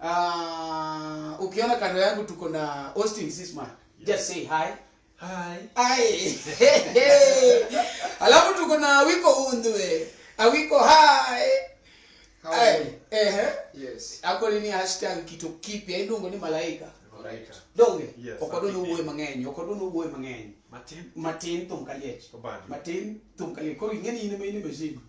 Ah, ukiona kando yangu tuko na Austin Sisma. Just say hi. Hi. Hi. Alafu tuko na Wiko Undwe. Awiko hi. How are you? Eh, eh. Yes. Ako ni hashtag kitu kipya indongo ni malaika. Alright. Donge. Yes, Okodo ni uwe mang'eny, okodo ni uwe mang'eny. Matin. Matin tum kaliech. Obadi. Matin tum kaliech. Koro ingeni ine me ine mezini.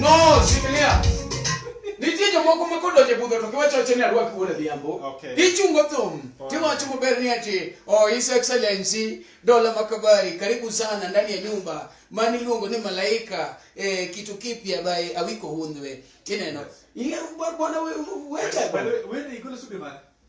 No, shikilia. Nitie jomoko ma kodonjo e budho to giwacho wacho ni arwak wuod adhiambo. Okay. Ichungo thum. Tiwacho maber ni ati, oh His Excellency Dola Makabari, karibu sana ndani ya nyumba. Mani luongo ni malaika eh, kitu kipya by Awiko Hundwe. Tineno. Ile bwana wewe wewe. Wewe ni kule subi mara.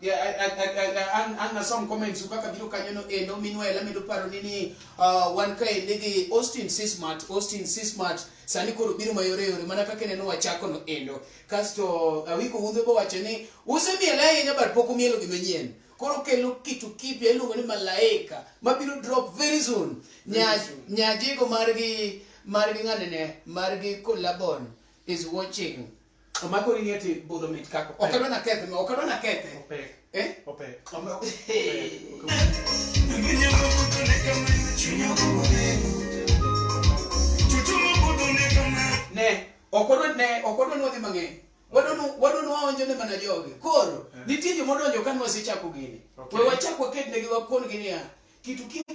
Yeah, I, I, I, I, I, an, an nasom comments kaka biro kanyono endo minwel amedo paro ni ni uh, wan kaendi gi Austin Sismat Austin Sismat sani koro biro mayore yore mana kaka neno wachako no endo kasto awiko wuodhe bo wacho ni usemiel ahinya but pok umielo gima nyien koro kelo kitu kipya iluongo ni malaika mabiro drop very soon Nya- nyajego margi margi ng'anene margi collabon is watching Omako ni eti budho mit kako. Ok adwa nakethe, ok adwa nakethe. Opek. Eh? Opek. Ne, ok odwa ne, ok odwa nwadhi mang'eny. Wadonu wadonu waonjo ne mana jogi. Koro eh. nitie joma odonjo ka nwa sichako gini. Okay. We wachak wakednegi wakon gini ya. Kitu kitu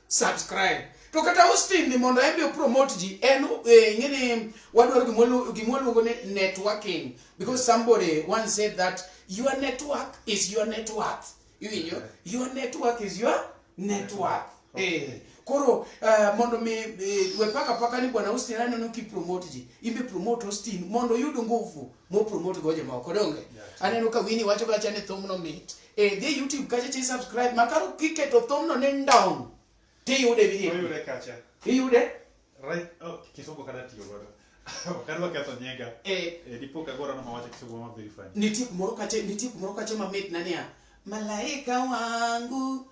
subscribe to kata Austin ni mondo embe promote ji en eh, ngini wadwaro gimolu gimoluongo ni networking because somebody once said that your network is your net worth iwinjo your network is your net worth eh koro eh, mondo mi eh, we paka paka ni bwana Austin aneno ki promote ji imbe promote Austin mondo yud nguvu mo promote go jomoko donge aneno ka wini wacho kacha ni thumno mit E dhi YouTube kacha chi subscribe makaro kiketo thumno ni ndong tiyude video. Oyude kacha. Iyude? Right. Oh, kisungu kada tiyo godo. Wakati waketho nyega. Eh. Eh, dipo ka gora no mawacho kisungu ma verify. Nitie kumoro kacha, nitie kumoro kacha mamit na niya. Malaika wangu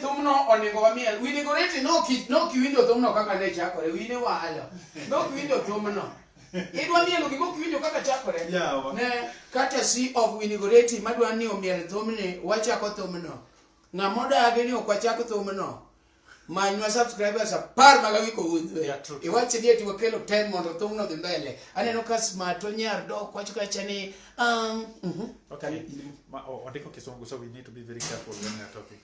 thumno onego wamiel we decorate no ki no kiwinjo thumno kaka ne chakore wine walo no kiwinjo thumno idwa mielo gima ok winjo kaka chakore Yawa. ne kata si of winigoreti madwa ni omiel thumni wachako thumno ng'ama odagi ni ok wachak thumno manywa subscribers apar mag awiko wuodhwe Yeah, true, true. iwache ni eti wakelo ten mondo thumno dhi mbele aneno ka smato nyar dok wacho kacha ni um, mhm. Okay, you- ma- oh, Odeko Kisungu, so we need to be very careful when we are talking.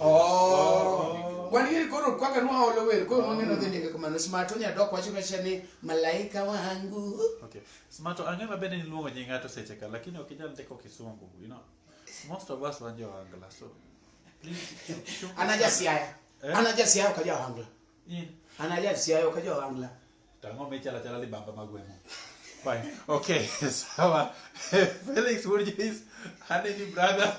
Oh. Wan yiri koro kwaka nwa olo wer koro mwange no dhindike kumano smato nya dok wacho kacha ni malaika wangu. Okay. Smato ang'e ma bende niluongo nying ng'ato seche ka lakini ok inyal ndiko kisungu, you know. Most of us wan Angla so. Anaja siaya. Eh? Anaja siaya ka jo Angla. In. Anaja siaya ka jo Angla. Tang'o michalo chala libamba magwemo. Fine. Okay, sawa. Felix wuod Joyce, aneni brother.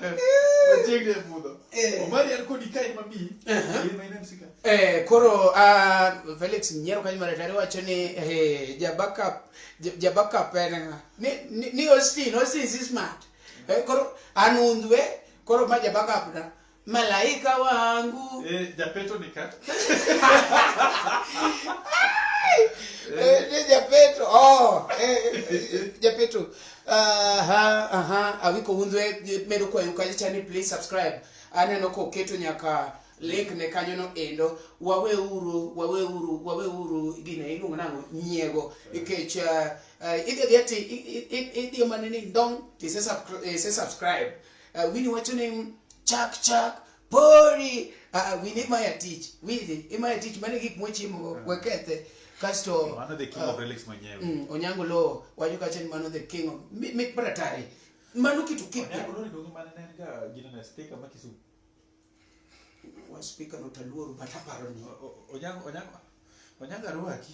Ochiegni e budho. Eh. Omari an kodi kae mami. Uh-huh. In my name sika. Eh, koro ah, Felix nyiero kanyo mar tari wacho ni eh, ja backup ja- ja backup en ng'a? ni ni- ni Austin, Austin si smart. Eh, koro an undhwe, koro ma ja backup na. Malaika wangu. Eh, Japeto ni kat. Eh, ni Japeto. Oh, eh, eh, Japeto. Aha, aha, awiko undwe medo kwa yukaji chani please subscribe. Aneno ko keto nyaka link ne kanyo no endo wawe uru wawe uru wawe uru gine iluongo nango nyiego ikech uh, uh, idhi dhi ati idhi manene ndong ti se subscribe Uh, wini wacho ni chak chak pori uh, uh, wini imaya tich wini imaya tich mane gik mochimogo uh. wekethe kasto mano the king uh, of relics mwenyewe mm, onyango lo wacho kacha ni mano the king of mi, mi bratari mano kitu kipi onyango lo ni dongo mane ne ga gina na speaker ma kisu wa speaker no taluoru bataparo ni onyango onyango onyango arwaki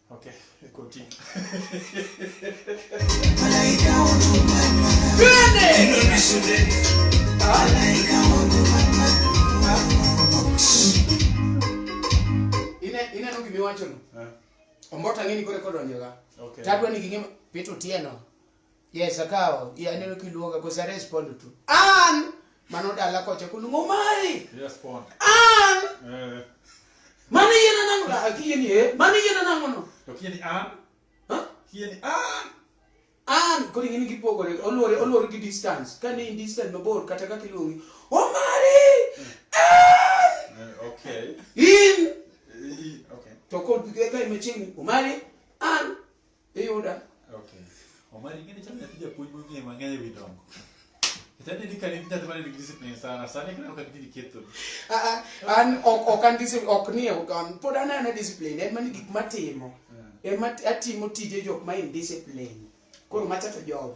Okay, continue. ineno gima iwachono eh. omboto ang'e ni koro kodonjoga tadwa ni ging'e pito tieno Yes, akawo. Iya neno kiluonga because I respond to. An mano dala kocha kunu ngomai. Yes, pon. An. Eh. Mano yena nango da akiyeni eh. Mano yena nango no. To kiyeni an. Ha? Kiyeni an. An kodi ngini kipogore olore olore gi distance. Ka ni distance mabor kata ka kiluongi. Omari. An. Eh, okay. In. Eh, okay. To kod ga imechini Omari. An. Iyuda? Okay. Omari ing'e ni chal nyathi japuonj mong'eyo mang'eny ewi dongo. Kitani ni kani nyathi mane nigi discipline sana, sani kineno ka gitini ketho. Ah, ah, an ok ok an discipline ok ni an pod an ana discipline en mani gik matimo. Eh. Ema atimo tije jok ma indiscipline. Koro macha to job.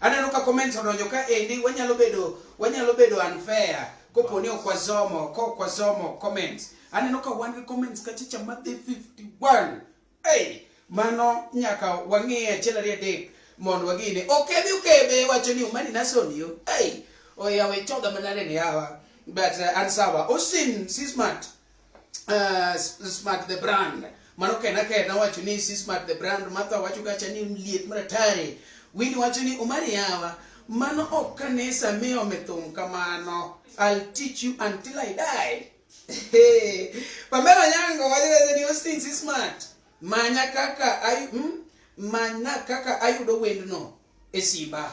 Aneno ka comments odonjo ka endi wanyalo bedo wanyalo bedo unfair kopo ni ok wasomo ko ok wasomo comments. Aneno ka wan gi comments ka chicha ma dhi 51. Hey, mano nyaka wang'e achiel ariyo adek mondo wagine. Okebe okebe wacho ni umani nason yo. Hey, oyawe choga manare ni hawa. But uh, ansawa. Osin si smart. uh, smart the brand mano kena kena wacho ni si smart the brand matha wacho kacha ni liet maratari wini wacho ni omari yawa mano ok kanisa miyo mithum kamano i'll teach you until i die Hey, pamela nyango waliweze ni hosting si smart manya kaka ayu, mm, manya kaka ayudo wendno e simba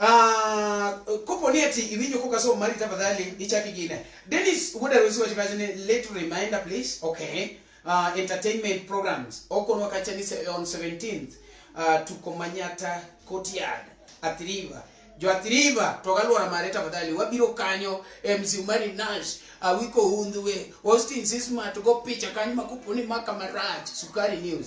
Ah, kopo ni ati iwinjo kok asomo mari tafadhali ichaki gine denis wuod arusi wacho kacha ni late reminder please okay uh, entertainment programs okonwa kacha ni se- on 17th uh, tuko manyata courtyard athiriva jo athiriva to galuora mare tafadhali wabiro kanyo mc mari nash awiko hundhwe austin sismat go picha kanyo makopo ni maka marach sukari news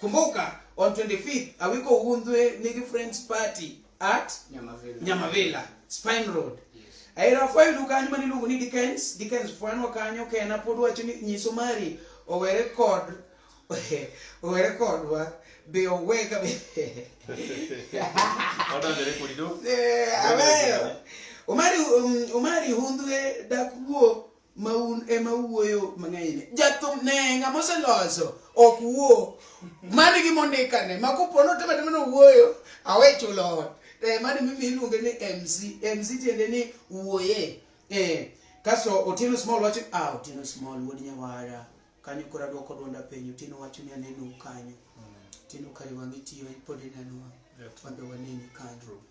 Kumbuka on 25th awiko undhwe nigi friends party at Nyamavela. Nyamavela, Spine Road. Yes. Aira failu kanyo mani luongo ni Dickens, Dickens fwanwa kanyo kena pod wacho ni nyiso mari owere kod owere kodwa be oweka be Odonjore kodi do. Eh, aweyo. Omari um, Omari hundhwe dak wuo ma un ema wuoyo mang'enyne jathum ne ng'ama oseloso ok wuo mani gi mondikane ma kopo notema tema nowuoyo awe chulo ot eh, mani mimi iluonge ni mc mc tiende ni wuoye eh, kasto otieno small wacho ah otieno small wuod nyawara kanyo koro adwoko dwonda penyo otieno wacho ni aneno kanyo otieno kare wang'e tiyo pod ineno wang' wadhi waneni kanyo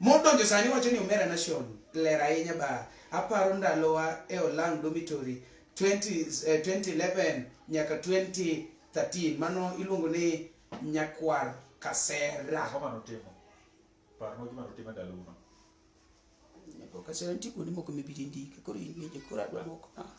Modonjo sani wacho ni Omera Nation ler ahinya baa. Aparo ndalowa e Olang Dormitory 2011 eh, nyaka 2013 mano iluongo ni Nyakwar Kasera. Ang'o mano timo? Parno gima notimo ndalo uno. Nyakwar Kasera nitie kuonde moko mibiro ndike koro in koro adwa dwoko.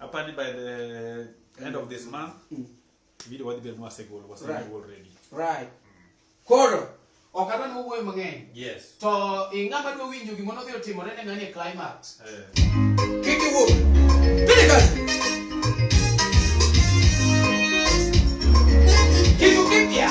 Apparently by the end of this month, Mm. video wadhi bedo mwasegolo, wasegolo Right. already. right koro ok adwa ni wawuoyo mang'eny Yes. to ing'ama dwa winjo gima nodhi otimore ne ng'ani e climax Eh, kik iwuo pili kazi kitu kipya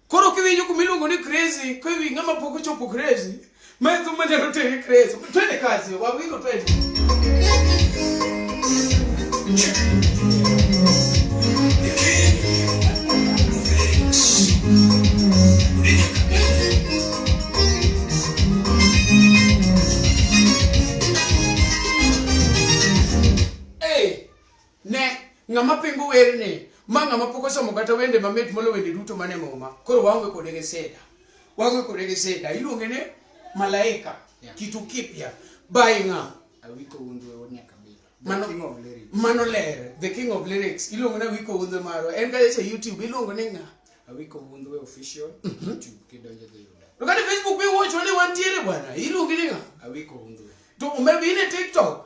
Koro kiwinjo kuma iluongo ni crazy, kiwi ng'ama pok ochopo crazy, ma e thumba nyalo tere crazy. Twende kazi, wawingo twende. Ne, ng'ama pingo werni, ma ng'ama pok osomo kata wende mamit molo wende duto mane muma. Koro waonge kode gi sida. Waonge kode gi sida. Iluonge ni malaika. Yeah. Kitu kipya. By ng'a? Awiko Wundu e Wonya Kabila. Mano, king of lyrics. Mano ler. The king of lyrics. Iluongo ni Awiko Wundu maro. En ka yeso YouTube. Iluongo ni ng'a? Awiko Wundu e official. Mm -hmm. YouTube. Kidonje dhi yuda. Lokati Facebook bi wocho ni wantiere bwana. Iluongo ni ng'a? Awiko Wundu. To umebe ine TikTok.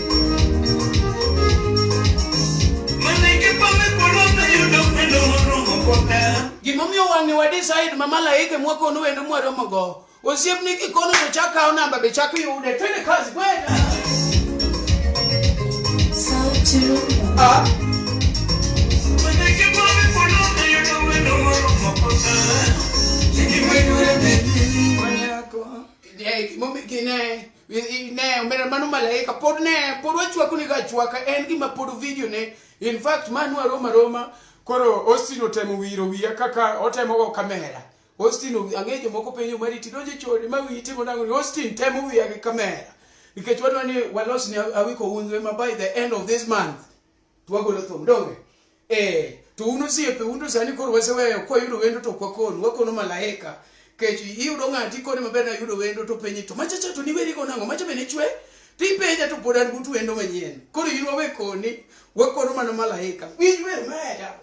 Gimomiyo wang'e wa decide ma malaike mwakonu wendo mwaromogo osiepni kikono to chak kawo namba be chak yude twende kazi kwenda Manyako, yeah, gimomi- gine- ne omera mano malaika pod ne pod wachwako ni gachwaka en gima pod video ne in fact manu aroma roma koro Austin otemo wiro wiya kaka otemo go kamera Austin ang'e jomoko penjo mari ti donje chori ma wiyi timo nango ni Austin temo wiya gi kamera nikech wadwa ni walos ni awiko undwe ma by the end of this month to wagolo thum donge eh to un osiepe un to sani koro waseweyo kwayudo wendo to kwakonu wakono malaika kech iyudo ng'ati koni maber na yudo wendo to penyi to machacha to niweri go nang'o macha bende chwe to ipenja to pod an but wendo manyien koro in wawe koni wakono mana malaika winj wer maya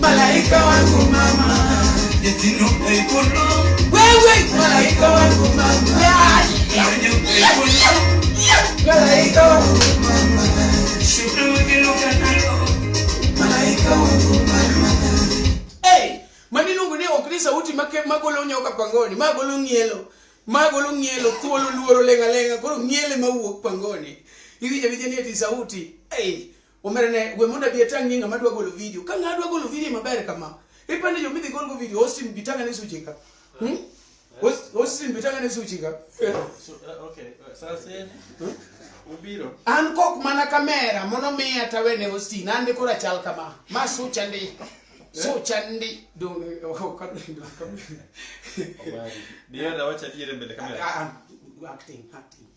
Malaika wangu mama, nyithindo ikolo. Wewe malaika wangu mama, nanyo ikolo. Malaika wangu mama, shukuru kiluka nalo. Malaika wangu mama. Hey, mani iluongo ni ok ni sauti ma ke- magolo nyoka pangoni, magolo ng'ielo, magolo ng'ielo, thuolo luoro lenga lenga, koro ng'iele mawuok pangoni. Iwinjo awinja ni eti sauti. Hey, Omera ne we mondo abi atang' ni ng'ama dwa golo video. Ka ng'ama dwa golo video maber kama. Ipande jo midhi golgo video Austin bitanga ne suche ka. Hmm? Aus- Austin bitanga ne suche ka. So, uh, okay. uh, Sasa yeye ubiro. An kok mana kamera mono miya tawene Austin an koro achal kama. Ma sucha ndi. Sucha ndi. Dong oh, ka Obari. Ndio na wacha dire mbele kamera. acting acting.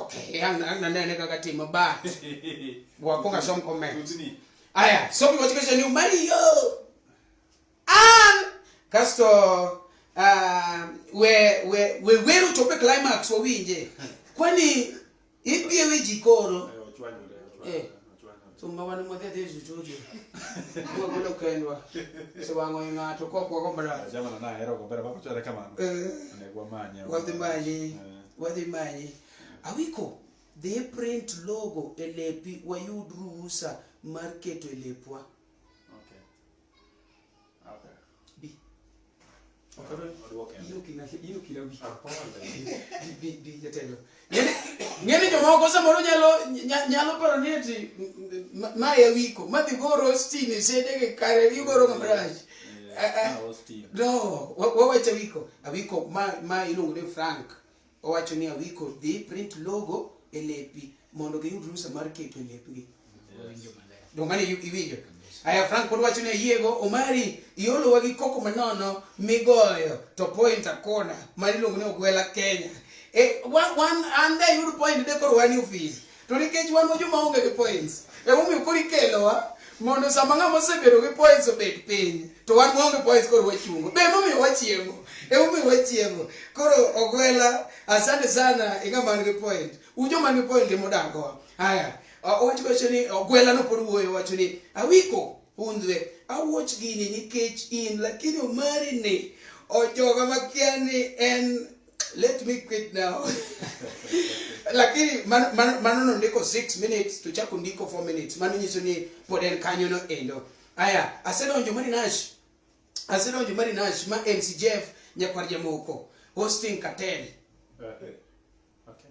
Okay, ang ang nanene ka katima ba? Wa ko ka som kome. Tutini. Aya, so mi wachika shani Mario. An kasto uh, we we we weru chope climax wa winje. Kwani ipi ewe jikoro? Eh, ochwanyore, ochwanyore. Eh. thumba wani mothe thi cucuju kuma kule ukendwa siwango ing'ato kokwa kombara Jamana na hero gombera bako chwere kamano. Negwa manye. wadhi manyi Eh. wadhi manyi awiko dhi print logo e lepi wayud ruhusa mar keto e lepwa ng'eni jomoko samoro nyalo nyalo paro ni ati ma e wiko ma dhi goro stini sede gi kare igoro mabrach no wawacho wiko awiko ma ma iluongo ni frank Owacho ni Awiko dhi print logo e lepi mondo giyud rusa mar keto e lepgi. Dongane iwinjo. Aya Frank pod wacho ni ayiego Omari iolowa gi koko manono migoyo to point akona ma iluongo ni Ogwela Kenya. E, wan, wan, an da yud point de koro wan ofis. To nikech wan joma onge gi points, emomiyo koro ikelowa mondo sama ng'ama osebedo gi points obed piny to wan waonge points koro wachungo be emomiyo wachiemo emomiyo wachiemo koro ogwela asante sana ing'ama nigi point ujo man gi point emodagowa haya owacho wacho ni ogwela no pod wuoyo wacho ni awiko hundhwe awuoch gini nikech in lakini omari ni ojoga makia ni en let me quit now lakini mano man, man nondiko 6 minutes to chako ndiko 4 minutes mano nyiso ni pod en kanyo no endo aya asedonjo mari nash asedonjo mari nash ma mcjf nyakwar jamoko hosting cartel uh, eh, eh, okay.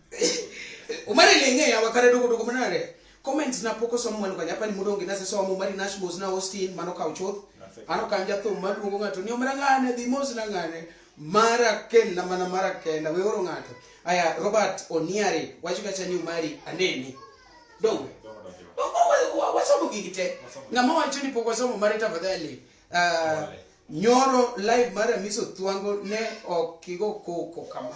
umari lenge ya wakare dugu dugu manare comments na poko somo manu kanya pani mudongi na seso mu mari nash mos na hostin mano ka uchot ano kanja to madu ngo ngato ni omara ngane di mos na ngane mara ken na mana mara ken na we oro ngato aya robert oniari wachika chani umari aneni dongo wasomo gigi te ng'ama wacho ni pok wasomo mare tafadhali uh, nyoro live mar amiso thwango ne ok igo koko kama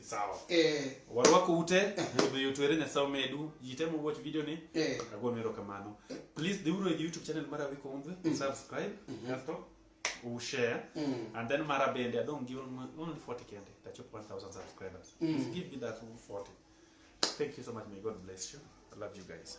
sawa eh warwako ute kendo yutu ere nyasaye omedu jitemo watch video ni eh agonu erokamano please dhiuru e youtube channel mara wiko umdhe subscribe kasto u share Mm. and then mara bende adong' gi only only 40 kende tachop 1000 subscribers Mm. please give me that 40 thank you so much may god bless you i love you guys